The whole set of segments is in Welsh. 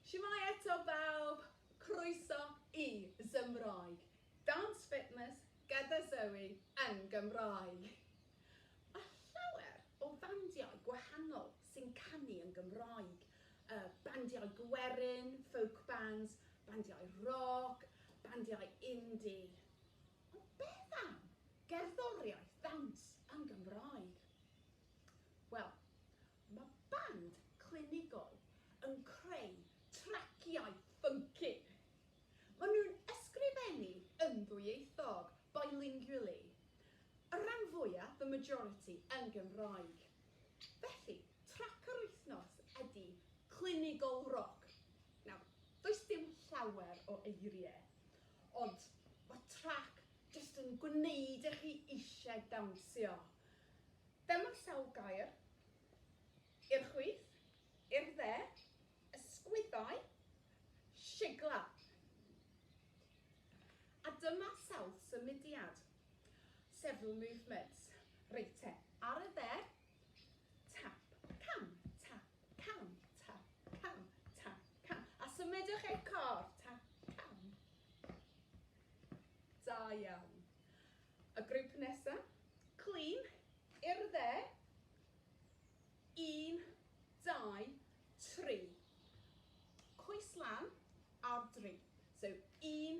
Shwmae eto bawb, croeso i Zymraeg, Dance Fitness gyda Zoe yn Gymraeg. Mae llawer o fandiau gwahanol sy'n canu yn Gymraeg. Uh, bandiau gwerin, folk bands, bandiau rock, bandiau indie. Ond beth am gerddoriaeth ddawns yn Gymraeg? Wel, mae band clinigol yn creu traciau ffynci! Maen nhw'n ysgrifennu yn ddwyieithog, bilingually, y rhan fwya', the majority, yn Gymraeg. Felly, trac yr wythnos ydy Clinigol Roc. Nawr, does dim llawer o eirie, Ond ma trac jyst yn gwneud i chi ishe dawnsio. Dyma sawl gair, i'r chwith, i'r dde, ysgwyddau, sigla. A dyma sawl symudiad, several movements. Reit te, ar y dde, Tap, cam, tap, cam, tap, cam, tap, cam. A symudwch eich corff, tap, cam. Da iawn. Y grŵp nesaf, clean, i'r dde. Un, dau, tri. Coes lan, ar dri. So, un,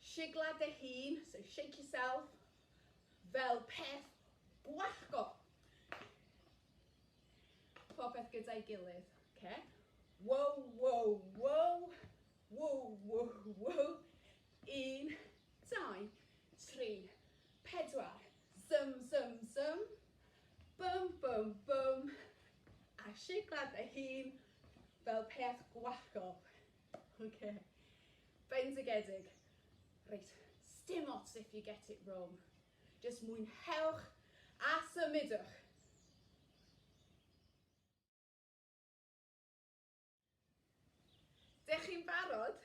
Sigla dy hun, so shake yourself, fel peth gwallgo. Popeth gyda'i gilydd, oce? Wow, wow, wow, wow, wow, wow. Un, dau, tri, pedwar. Zum, zum, zum. Bum, bum, bum. A sigla dy hun, fel peth gwallgo. Oce. Bendigedig! Reit, sdim ots if you get it wrong. Jyst mwynhewch a symudwch! Dych chi'n barod?